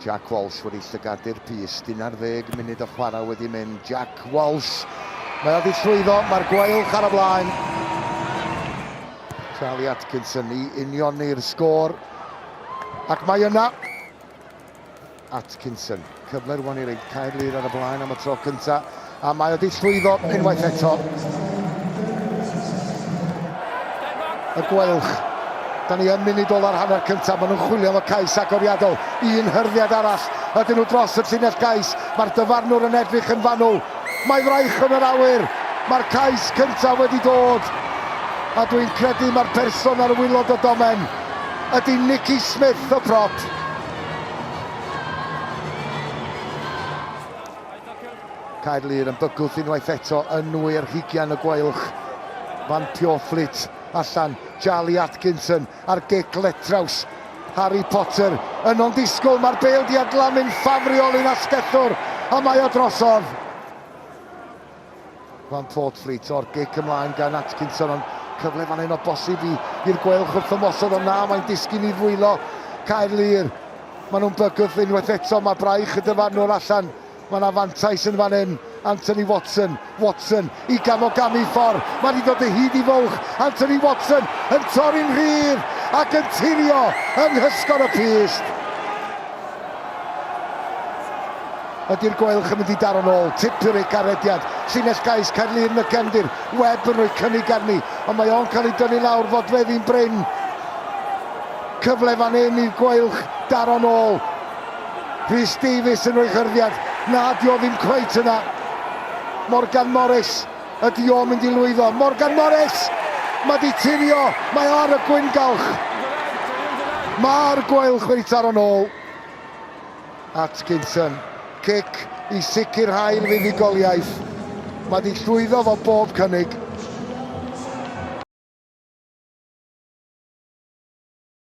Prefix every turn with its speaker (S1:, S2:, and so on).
S1: Jack Walsh wedi llygadu'r pys, dyn ar ddeg munud o chwarae wedi mynd, Jack Walsh! Mae o wedi llwyddo, mae'r gweilch ar y blaen. Charlie Atkinson i unioni'r sgôr. Ac mae yna Atkinson. Cyfle rwan i reid Caerlŷr ar y blaen am y tro cynta, a mae wedi llwyddo unwaith eto. Y gweilch. Da ni yn munud ola'r hanner cyntaf, maen nhw'n chwilio am y cais agoriadol. Un hyrddiad arall, ydyn nhw dros y llinell gais. Mae'r dyfarnwr yn edrych yn fanwl. Mae fraich yn yr awyr. Mae'r cais cyntaf wedi dod. A dwi'n credu mae'r person ar wylod y domen ydy Nicky Smith, y prop. Caer Lŷr yn bygwth unwaith eto yn nwy ar hugian y gwaelch. Van Pjorflit allan, Charlie Atkinson ar gic letraws. Harry Potter yn o'n disgwyl, mae'r bêl di adlamu'n ffafriol i'n asgellwr, a mae o drosodd. Van Portfleet o'r gic ymlaen gan Atkinson, ond cyfle fan hyn o bosib i i'r Gweilch wrth ymosod, ond na, mae'n disgyn i ddwylo Caerlŷr. Mae nhw'n bygwth unwaith eto, mae braich y dyfarnwr allan. Mae yna fantais yn fan hyn, Anthony Watson, Watson i Gamogami Ffor, mae wedi dod o hyd i fwlch, Anthony Watson yn torri'n rhydd ac yn tirio yng nghysgod y pyst. Ydi'r Gweilch yn mynd i daro'n ôl? Tipyn ei garediad. Llinell gais Caerlŷn y gefndir. Webb yn rhoi cynnig arni, ond mae o'n cael ei dynnu lawr. Fodfeddi'n brin. Cyfle fan hyn i'r Gweilch daro'n ôl. Rhys Davies yn rhoi hyrddiad. Na, dio o ddim cweit yna. Morgan Morris. Ydi o'n mynd i lwyddo? Morgan Morris! Mae di tirio. Mae ar y gwyngalch. Mae'r Gweilch wedi taro'n ôl. Atkinson, cic i sicrhau'r fuddugoliaeth. Mae di llwyddo fo bob cynnig.